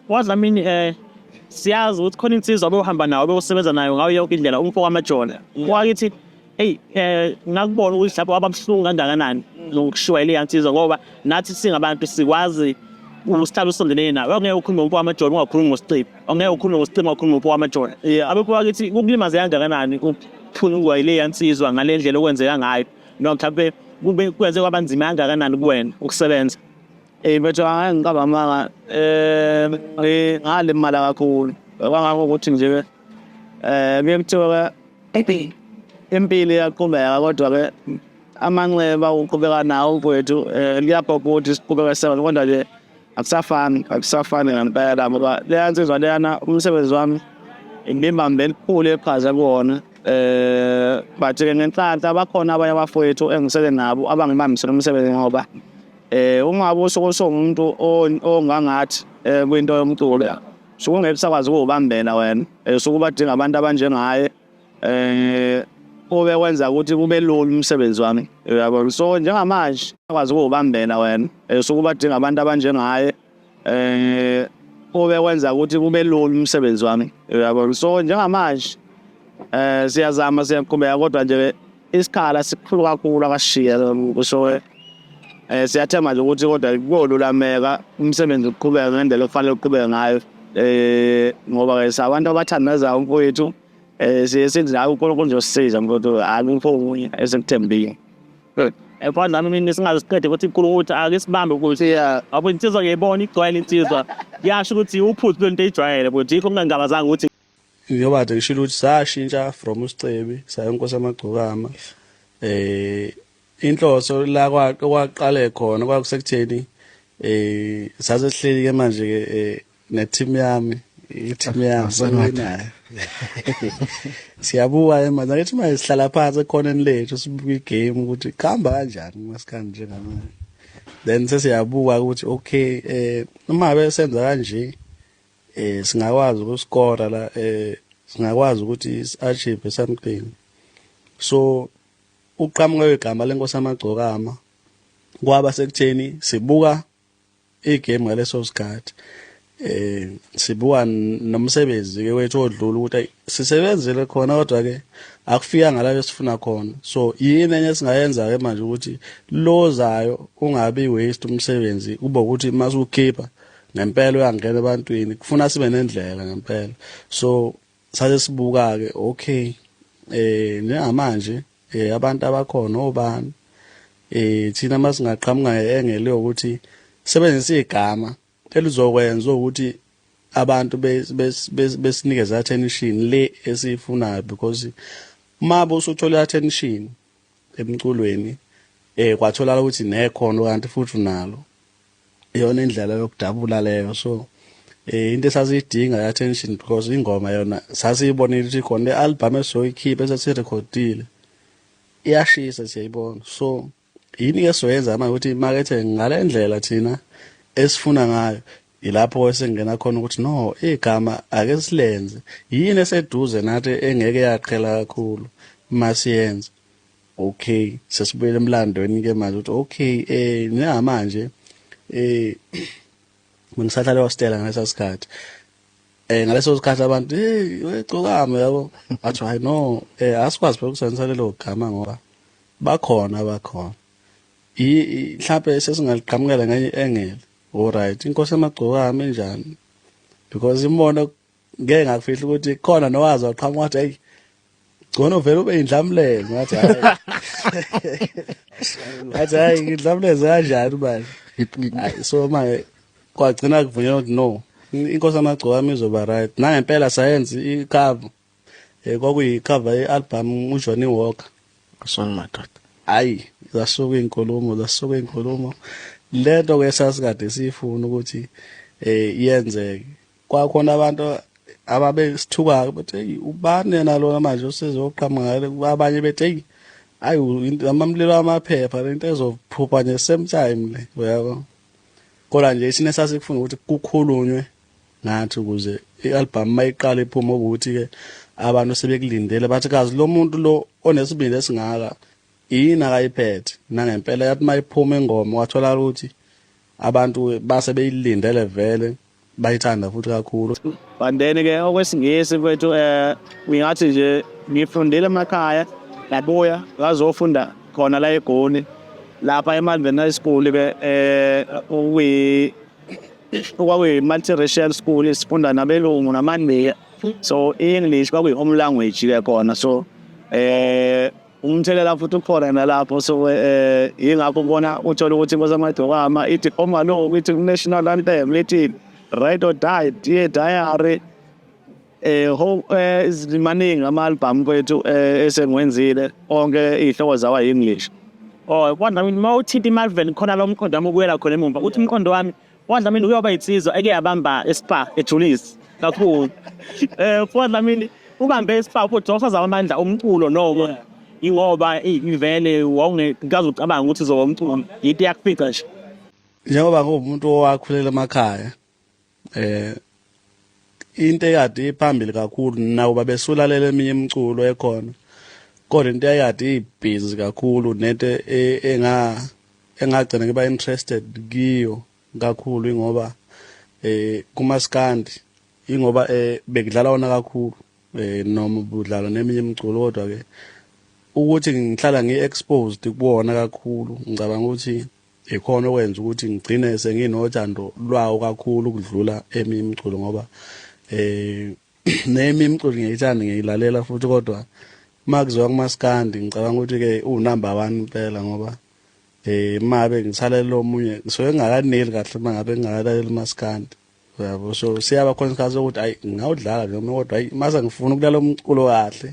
Wadlamini eh siyazi ukuthi khona insizwa bewuhamba nawo bewusebenza nayo ngayo yonke indlela umfo kwamajona wakithi eyi eh ngakubona ukuthi lapho abamhlungu kangakanani nokushiwa ile yansizwa ngoba nathi singabantu sikwazi usihlala usondelene nawe ongeke ukhulume ngomfo wamajona ungakhulumi ngosicima ongeke ukhulume ngosicima ungakhulumi ngomfo wamajona Eh, abekho wakithi kukulimaze kangakanani ukuphuna ukuwa ile yansizwa ngale ndlela okwenzeka ngayo noma mhlawumbe kube kwenze kwabanzima kangakanani kuwena ukusebenza Hey mfethu hayi ngicaba amanga um ngalimala kakhulu kwangakho ukuthi nje ke um kuye kuthiwa ke impilo iyaqhubeka kodwa-ke amanxeba uqhubeka nawo mfowethu um liyabhobha ukuthi siqhubeke sebenze kodwa nje akusafani akusafani ngempela ngoba leya nsizwa leyana umsebenzi wami ngimbambe elikhulu eqhaza kuwona um but-ke ngenhlanhla bakhona abanye abafowethu engisele nabo abangibambisela umsebenzi ngoba Eh uma usuke songumuntu ongangathi eh, kwinto yomculo suke ungeke sakwazi ukubambela wena eh, suke ubadinga abantu abanjengaye eh ube wenza ukuthi kube lula umsebenzi wami uyabo so njengamanje akwazi ukubambela wena eh, suke ubadinga abantu abanjengaye eh ube wenza ukuthi kube lula umsebenzi wami uyabo so njengamanje eh siyazama siyaqhubeka kodwa nje isikhala sikhulu kakhulu akashiye lo mqushowe um siyathemba nje ukuthi kodwa kuyolulameka umsebenzi uqhubeke ngendlela okufanele uqhubeke ngayo um ngoba-ke sabantu abathandazayo umfowethu um siye sithi hayi unkulunkulu uzosisiza mfowethu hayi umfo okunye esikuthembile efana nami mina singazisiqede ukuthi unkulunkulu ukuthi ake sibambe ukuthi abo insizwa ngiyayibona igcwele insizwa yasho ukuthi uphuzi lwento eyijwayele futhi yikho ngingangabazanga ukuthi Njengoba kade ngishilo ukuthi sashintsha from uSicebi saya uNkosi Amagcokama eh inhloso la kwaqale khona kwakusekutheni eh saze sihleli ke manje ke eh, ne team yami i team yami sewinayo siyabuka ke manje ngithi manje sihlala phansi ekhoneni lethu sibuka igame ukuthi kuhamba kanjani masikanje njengamanje then sesiyabuka ukuthi okay eh uma besenza kanje eh singakwazi ukuskora la eh singakwazi ukuthi si-achieve something so uqhamuka kwegama lenkosi amagcokama kwaba sekutheni sibuka igame ngaleso sikhathi eh sibuka nomsebenzi ke wethu odlula ukuthi sisebenzele khona kodwa ke akufika ngalayo sifuna khona so yini enye singayenza ke manje ukuthi lozayo ungabi waste umsebenzi kube ukuthi masukhipha ngempela uyangena ebantwini kufuna sibe nendlela ngempela so sase sibuka ke okay eh njengamanje eh abantu abakhona obani eh thina masingaqhamuka engele ukuthi sebenzisa igama elizokwenza ukuthi abantu besinikeza attention le esiyifunayo because uma bosuthola attention emculweni eh kwatholakala ukuthi nekhono kanti futhi unalo iyona indlela yokudabula leyo so eh into esasiyidinga ya attention because ingoma yona sasiyibonile ukuthi khona le album esizoyikhipha esasirecordile iyashisa siyayibona so yini ke soyenza manje ukuthi imakethe ngale ndlela thina esifuna ngayo yilapho esengena khona ukuthi no igama ake silenze yini eseduze nathi engeke yaqhela kakhulu masiyenze Okay sesibuyele emlandweni ke manje uthi okay eh njengamanje eh ngisahlale waStella ngalesa sikhathi eh ngaleso sikhathi abantu hey wegcokama yabo athi hayi no eh asikwazi phela ukusebenzisa lelo gama ngoba bakhona bakhona i mhlawumbe sesingaliqhamukela ngenye engele alright inkosi emagcokama enjani because imona ngeke ngakufihla ukuthi khona nowazi waqhamuka wathi ayi gcono vele ube indlamlelo ngathi hayi ngathi hayi indlamlelo kanjani manje so manje kwagcina kuvunyelwa ukuthi no inkosi amagcoka yami izoba right nangempela sayenza ikhava eh, kwakuyikhava i-album ujohnny walker kusona madoda hayi zasuka iy'nkulumo zasuka iy'nkulumo le nto-ke sasikade siyifuna ukuthi um yenzeke kwakhona abantu ababesithukayo bethi eyi ubani yena lona manje usezoqhamuka abanye bethi eyi ayi amamlilo amaphepha lento ezophupha nje same time le uyabo kodwa nje thina sasikufuna ukuthi kukhulunywe ngathi ukuze i-album mayiqala iphuma ukuthi-ke abantu sebekulindele bathi kazi lo muntu lo onesibindi esingaka yini akayiphethe nangempela yathi mayiphuma ingoma wathola ukuthi abantu base beyilindele vele bayithanda futhi kakhulu but then ke okwesingisi kwethu um ngingathi nje ngifundile emakhaya ngabuya ngazofunda khona la egoni lapha emalveni high school ke um kwakuyi-multiracial school sifunda nabelungu namandiya so i-english kwakuyi-home language ke khona so um umthelela futhi ukhona nalapho so um yingakho ubona uthole ukuthi inkosi amadokama ithi omaloku ithi ku-national anthem lithi right or die dear diary um um maningi ama-albhamu kwethu um esengiwenzile onke iy'hloko zawa yi-english or oh, kodwa uma uthinta imalvern khona lo mqondo wami ubuyela khona emumva uthi umqondo wami UDlamini uyoba insizwa eke yabamba eSpar eJulisi kakhulu. Eh uDlamini ubambe eSpar uphotho usaza amandla omculo noko ingoba ivele wawungekazi ucabanga ukuthi uzoba umculo yinto yakufika nje. Njengoba kuwumuntu owakhulela emakhaya eh into eyadi iphambili kakhulu nawo babesulalela eminye imiculo ekhona kodwa into eyadi ibhizi kakhulu nento e, enga engagcina ngiba interested kiyo kakhulu ingoba eh kumaskandi ingoba eh bekudlala wona kakhulu eh noma budlala neminye imiculo kodwa ke ukuthi ngihlala ngi-exposed kuwona kakhulu ngicabanga ukuthi Yikhona okwenza ukuthi ngigcine senginothando lwawo kakhulu ukudlula eminye imiculo ngoba um neyimi imiculo ngiyayithanda ngiyayilalela futhi kodwa uma kuziwa kumaskandi ngicabanga ukuthi-ke uwunumber one impela ngoba um uma ngabe ngisalela omunye ngisuke ngingakaneli kahle uma ngabe ngingakalaleli umaskandi uyabo so siyaba khona isikhathi sokuthi ayi ngingawudlala nje kodwa ayi uma sengifuna ukulala umculo kahle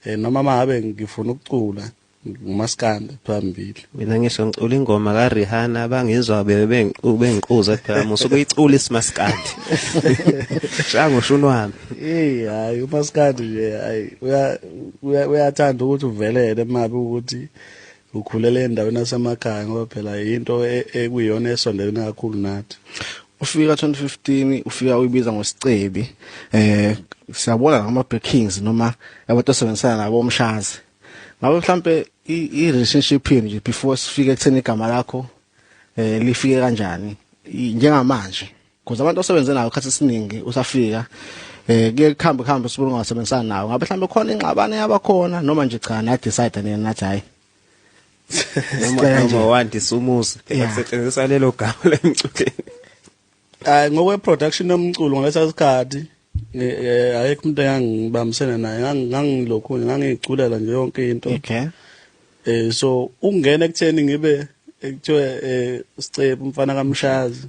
um noma uma ngabe ngifuna ukucula ngumaskanda phambili mina ngisho ngicula ingoma ka Rihanna abangizwa bebe bengiquza phela musu kuyicula isimaskandi shango shunu wami hey hayi umaskandi nje hayi uyathanda ukuthi uvelele mabe ukuthi ukhulele endaweni yasemakhaya ngoba phela yinto e-, ekuyona esondelene kakhulu nathi ufika 2015 ufika uyibiza ngosicebi eh siyabona ngama breakings noma abantu osebenzisana nabo omshazi ngabe mhlambe i relationship yenu nje before sifike ekutheni igama lakho eh lifike kanjani njengamanje because abantu osebenze nayo khathi siningi usafika eh kuye kuhambe kuhambe sibona ungasebenzisana nawo ngabe mhlambe khona ingxabano yabakhona noma nje cha na decide nina nathi hayi noma noma wandisa umuzi kusetshenziswa lelo gama lemcukeni Hayi ngokwe production yomculo ngalesa sikhathi eh, ayekho umuntu engangibambisene naye ngangilokhu ngangiculela nje yonke into. Okay. Eh so ungena ekutheni ngibe ekuthiwa eh sicebu umfana kamshazi.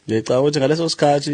Ngicabanga ukuthi ngaleso sikhathi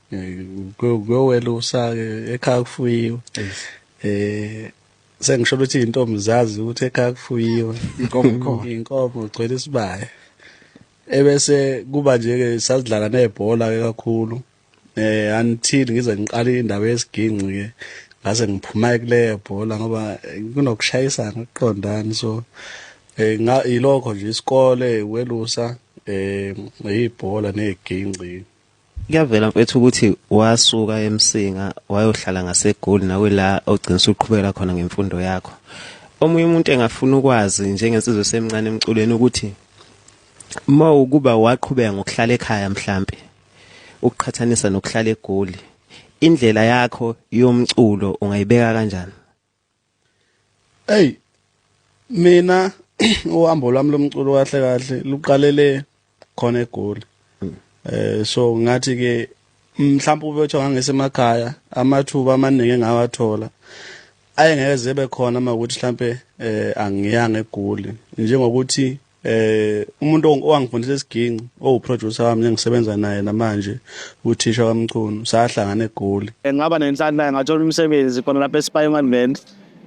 kuyowelusa-ke ekhaya kufuyiwe um sengisho ukuthi iy'ntombi zazi ukuthi ekhaya kufuyiwe iy'nkomo ugcwele isibaya ebese kuba nje-ke sasidlala nebhola-ke kakhulu eh until ngize ngiqala indaba yesiginci ke ngase ngiphuma kuleyo bhola ngoba kunokushayisana ukuqondani so eh ilokho nje isikole welusa eh ibhola neziginci Kuyavela mfethu ukuthi wasuka eMsinga wayohlala ngaseGoli nawe la ogcina usuqhubekela khona ngemfundo yakho. Omunye umuntu engafuna ukwazi njengensizwe semncane emculweni ukuthi uma ukuba waqhubeka ngokuhlala ekhaya mhlambe ukuqhathanisa nokuhlala eGoli indlela yakho yomculo ungayibeka kanjani? Hey mina uhambo lwami lomculo kahle kahle luqalele khona egoli hmm. eh so ngathi ke mhlawumbe ube uthiwa ngangesemakhaya amathuba amaningi engawathola ayengeke zibe khona uma ukuthi mhlambe eh angiyanga egoli njengokuthi eh umuntu owangifundisa isiginci owuproducer wami engisebenza naye namanje uthisha wamchunu sahlangana egoli eh, ngaba nenhlanhla ngathola umsebenzi khona lapha eSpying Advent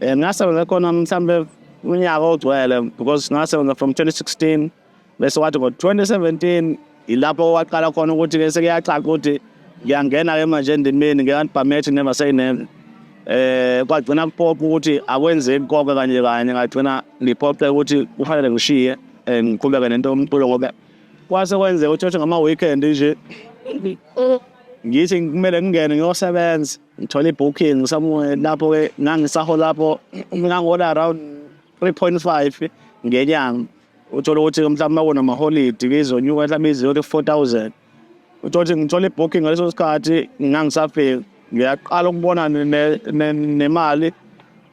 eh ngasebenza khona mhlambe unyaka ogcwele because ngasebenza from 2016 bese wathi ngo-2017 Yilapho kwaqala khona ukuthi ke sekuyacaca ukuthi ngiyangena ke manje endimeni ngiyantibhamethi never say never eh kwagcina kuphoqa ukuthi akwenzeki konke kanje kanye ngagcina ngiphoqe ukuthi kufanele ngishiye eh, ngiqhubeke nento yomculo ngoba kwase kwenzeka ukuthi othi ngama-weekend nje ngithi kumele ngingene ngiyosebenza ngithole i-booking somewhere lapho-ke ngangisaho lapho ngangihola around three point five ngenyanga uthole ukuthi mhlawumbe makona maholidi kizonyuka mhlawumbe iziyothi ku-four thousand uthole ukuthi ngithole ibooking ngaleso sikhathi ngangisafiki ngiyaqala ukubona nemali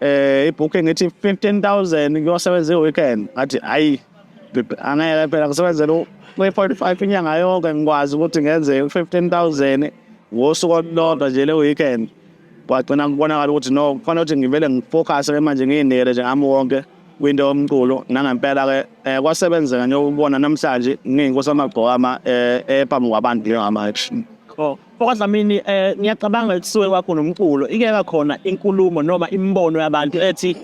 eh ibooking ethi 15000 kuyosebenza iweekend ngathi hayi angeke phela ngisebenzela kwi-45 inyanga yonke ngikwazi ukuthi ngenze 15000 ngosuku olulodwa nje le weekend kwagcina kubonakala ukuthi no kufanele ukuthi ngivele ngifocus-ke manje ngiyinele nje ngami wonke kwinto yomculo nangempela-ke um kwasebenzeka njengoba namhlanje ngiyinkosi amagcokama um eh, ephambi eh, kwabantu njengamanje oh, okwadlamini um eh, ngiyacabanga kusuke kwakho nomculo ikeka khona inkulumo noma imibono yabantu ethi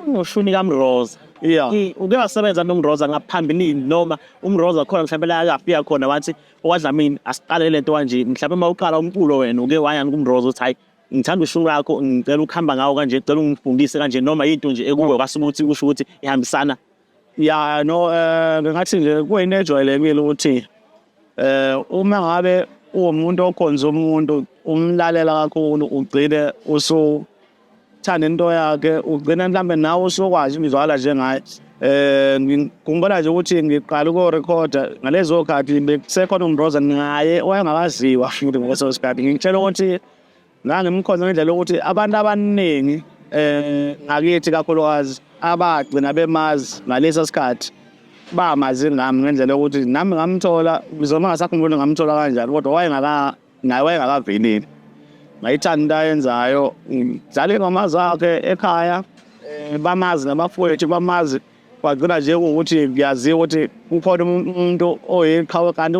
ngoshuni kamroza yeah uke wasebenza nomroza ngaphambilini noma umroza khona mhlawumbe la akafika khona wathi owadlamini asiqale lento kanje mhlawumbe uma uqala umculo wena uke wayani kumrozo uthi hayi ngithanda ushuni lwakho ngicela ukuhamba ngawo kanje ngicela ungifundise kanje noma yinto nje ekuwe kwase ukuthi kusho ukuthi ihambisana ya no eh, ngathi nje kuyinto ejwayelekile ukuthi eh uma ngabe uwumuntu okhonza umuntu umlalela kakhulu ugcine usu thanda into yakhe ugcina mhlawumbe nawe usokwazi ngizwakala njengaye eh ngikhumbula nje ukuthi ngiqala ukurekhoda ngalezo khathi bekusekhona uMroza naye wayengakaziwa futhi ngaleso sikhathi ngitshela ukuthi ngangimkhonza ngendlela yokuthi abantu abaningi eh ngakithi kakhulukazi abagcina bemazi ngaleso sikhathi bamazi ngami ngendlela yokuthi nami ngamthola ngizoma ngasakhumbula ngamthola kanjani kodwa wayengaka naye wayengakavinile ngayithanda into ayenzayo ngidlala ingoma zakhe ekhaya um bamazi nabafowethu bamazi kwagcina nje kuwukuthi kuyaziwa ukuthi kukhona umuntu oyiqhawe kanti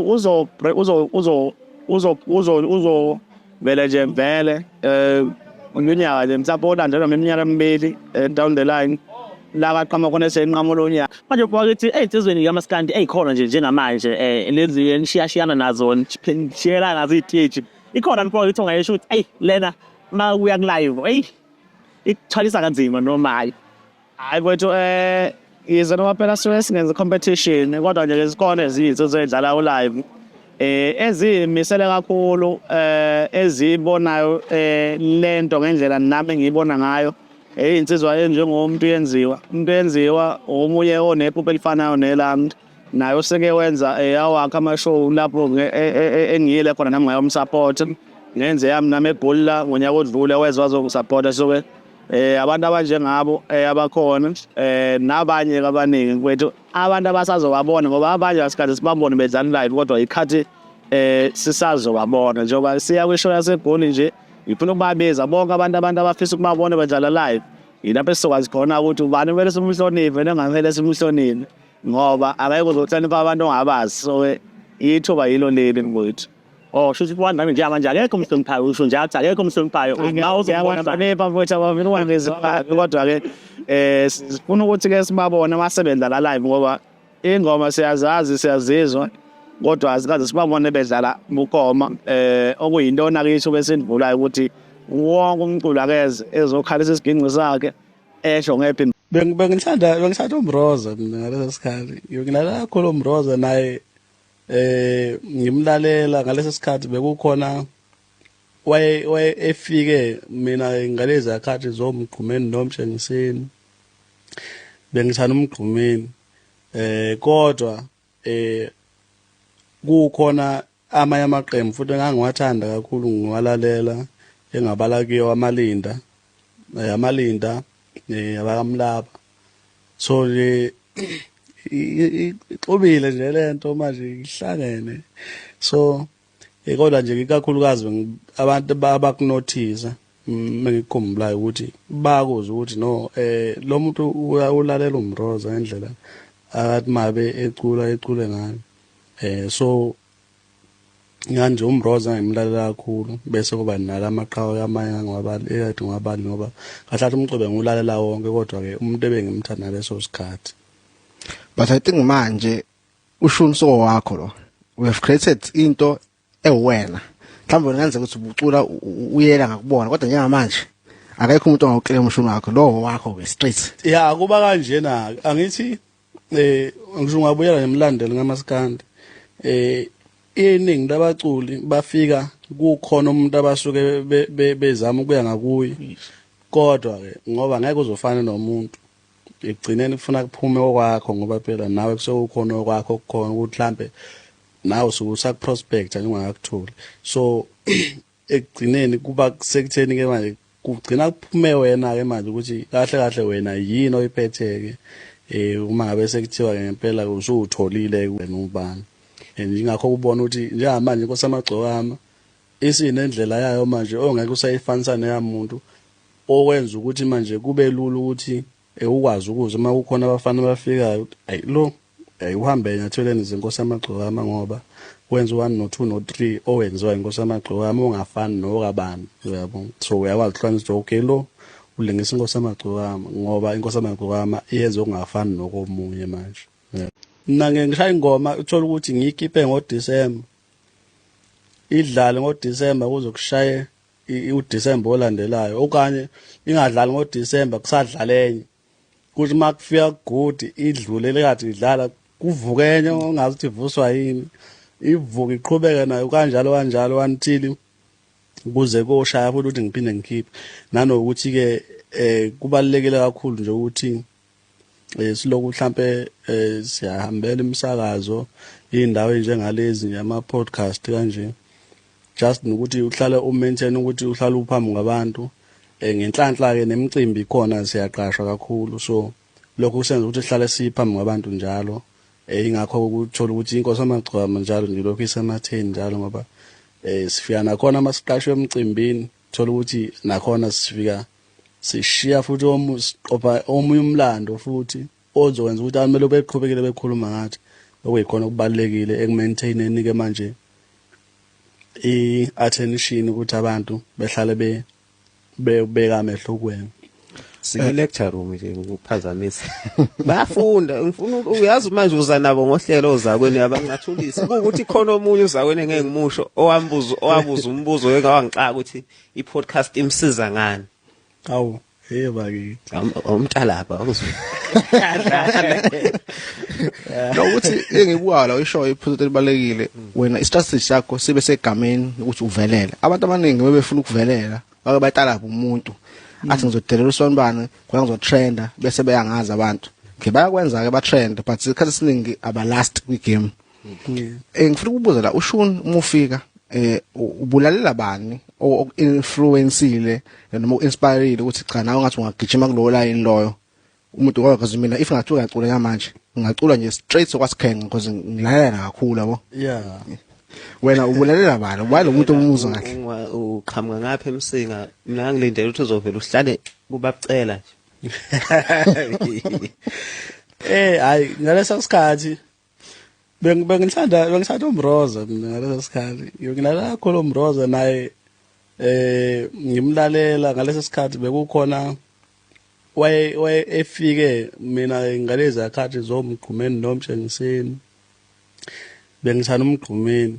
uzovele nje vele Eh unyaka le mhlawumbe olandelwa ngeminyaka emibili eh, down the line la kaqhamuka khona esenqamulo unyaka manje ubona ukuthi ey'nsizweni kamaskandi ey'khona nje njengamanje um lezi enishiyashiyana nazo nishiyela ngazo iy'teji ikhona mpona ukuthi ungayesho ukuthi eyi lena uma kuya kulive eyi ikuthwalisa kanzima noma hhayi hayi kwethu um eh, yize noma phela sisuke singenza competition kodwa nje lezikole eziyizo zoyidlala ulive eh ezimisele kakhulu eh ezibonayo eh lento ngendlela nami ngiyibona ngayo eyinsizwa enjengomuntu yenziwa umuntu yenziwa omunye onephupho elifanayo nelami naye useke wenza eyawakhe eh, amashow lapho eh, eh, engiyile khona nami ngayomsupport ngenze yami nami egoli la ngonyaka odlule wezwa azongisupporta so ke eh abantu abanjengabo abakhona eh nabanye abaningi kwethu abantu abasazobabona ngoba abanye asikade sibabone bedlala live kodwa ikhathi eh sisazobabona njengoba siya kwishow yasegoli nje ngifuna ukubabiza bonke abantu abantu abafisa ukubabona bedlala live yilapho esizokwazi khona ukuthi ubani kumele simhloniphe nengamele simhloniphe ngoba akayeke uzohlonipha abantu ongabazi so ithuba yilo leli mfowethu Oh, shuthi kwani nami njenga manje akekho umhloniphayo usho nje athi akekho umhloniphayo. Ngawo uzobona banepa mfowethu abavile kwangezi kodwa ke eh sifuna ukuthi ke sibabone abasebenza la live ngoba ingoma siyazazi siyazizwa kodwa azikaze sibabone bedlala bukoma eh okuyintona kithi besindivulayo ukuthi wonke umculo akeze ezokhalisa isigingqi sakhe esho ngephi Beng- bengithanda bengithanda umroza mina ngaleso sikhathi ngilalela kakhulu umroza naye eh ngimlalela ngaleso sikhathi bekukhona waye waye efike mina ngalezi akhathi zomgqumeni nomshengiseni bengithanda umgqumeni eh kodwa eh kukhona amanye amaqembu futhi engangiwathanda kakhulu ngiwalalela engabala kuyo amalinda eh, amalinda eh, abakamlaba so nje ixubile nje lento manje ihlangene so Eh kodwa nje ikakhulukazi abantu abakunothisa mengikukhumbulayo mm, ukuthi bakuze ukuthi no eh lo muntu ulalela umroza ngendlela akathi mabe ecula ecule ngani eh so nganje umroza ngimlalela kakhulu bese kuba nala maqhawe kamanye ngwabali eyathi ngwabali ngoba kahlathi umcube ngulalela wonke kodwa ke umuntu ebengimthanda leso sikhathi but i think manje usho umsoko wakho lo we have created into ewena mhlawumbe wena kenzeka ukuthi ubucula uyela ngakubona kodwa njengamanje akekho umuntu ongawuclaim umshini wakho lowo wakho ke straight ya kuba kanjena angithi eh ngisho ungabuyela nemlandelo ngamaskandi eh iningi labaculi bafika kukhona umuntu abasuke bezama ukuya ngakuye kodwa ke ngoba ngeke uzofana nomuntu ekugcineni kufuna kuphume okwakho ngoba phela nawe kusuke kukhona okwakho okukhona ukuthi mhlampe nawe usuke usakuprospecta nje ungakakutholi so ekugcineni kuba sekutheni ke manje kugcina kuphume wena ke manje ukuthi kahle kahle wena yini oyiphetheke eh uma ngabe sekuthiwa ke ngempela usutholile wena ubani and ingakho kubona ukuthi njengamanje inkosi amagcokama Isinendlela yayo manje ongeke usayifanisa neyamuntu okwenza ukuthi manje kube lula ukuthi eh, ukwazi ukuze uma kukhona abafana abafikayo ayi lo ayi uhambe enyathelweni zenkosi yamagcokama ngoba wenza u-one no-two no-three owenziwa inkosi yamagcokama ongafani nokabani uyabo so uyakwazi ukuhlukanisa ukuthi okay lo ulingisa inkosi yamagcokama ngoba inkosi yamagcokama iyenza okungafani nokomunye manje mina ngishaya ingoma uthola ukuthi ngiyikipe ngodisemba idlale ngoDisemba kuze kushaye uDisemba olandelayo okanye ingadlali ngoDisemba kusadlala enye kuthi uma kufika kugudi idlule lekathi idlala kuvuke enye ongazi ukuthi ivuswa yini ivuke iqhubeke nayo kanjalo kanjalo until kuze koshaya futhi ukuthi ngiphinde ngikhiphe nanokuthi-ke um kubalulekile kakhulu nje ukuthi eh, siloku mhlampe eh, siyahambela imisakazo iy'ndawo ey'njengalezi nje ama-podcast kanje just nokuthi uhlale umaintain ukuthi uhlale uphambi kwabantu um ngenhlanhla-ke nemicimbi khona siyaqashwa kakhulu so lokho kusenza ukuthi sihlale siphambi kwabantu njalo um ingakho ukuthola ukuthi inkosi amagcwama njalo nje lokhu isematheni njalo ngoba um sifika nakhona uma siqashwe emcimbini Thola ukuthi nakhona sifika sishiya futhi omu siqopha omunye umlando futhi ozokwenza ukuthi abantu belo beqhubekile bekhuluma ngathi okuyikhona okubalekile ekumaintaineni ke manje i attention ukuthi abantu behlale be beka amehlo kuwena Sike lecture room nje ngiphazamisa. Bayafunda ngifuna uyazi manje uza nabo ngohlelo ozakweni abangathulisi ukuthi khona omunye uzakweni ngeke ngimusho owambuzo owabuza umbuzo engawangixaka ukuthi i podcast imsiza ngani. Awu Hey bakithi. Umtalapha awuzwe. Nokuthi engibuka la isho iphuthu elibalekile wena i strategy yakho sibe segameni ukuthi uvelele. Abantu abaningi bebefuna ukuvelela bake batalapha umuntu athi ngizodelela usonibani ngoba ngizotrenda bese beyangazi abantu ke bayakwenza ke batrend but isikhathi esiningi aba last kwi game eh, ngifuna ukubuza la ushun uma ufika eh ubulalela bani oku-influensile noma uku-inspirile ukuthi cha nawe ngathi ungagijima kulowo layini loyo umuntu ngoba because mina if ngathiwa ngiyacula yamanje ngingacula nje straight sokwasikhenge because ngilalela kakhulu yabo yeah wena ubulalela bani ubani umuntu omuzwa kahle uqhamuka ngapha emsinga mina ngilindele ukuthi uzovela uhlale kubabucela nje eh hayi ngalesa sikhathi bengithanda bengithanda umroza mina ngaleso sikhathi ngilala kakhulu umroza naye eh ngimlalela ngaleso sikhathi bekukhona waye waye efike mina ngalezi akhathi zomgqumeni nomtshengiseni bengithanda umgqumeni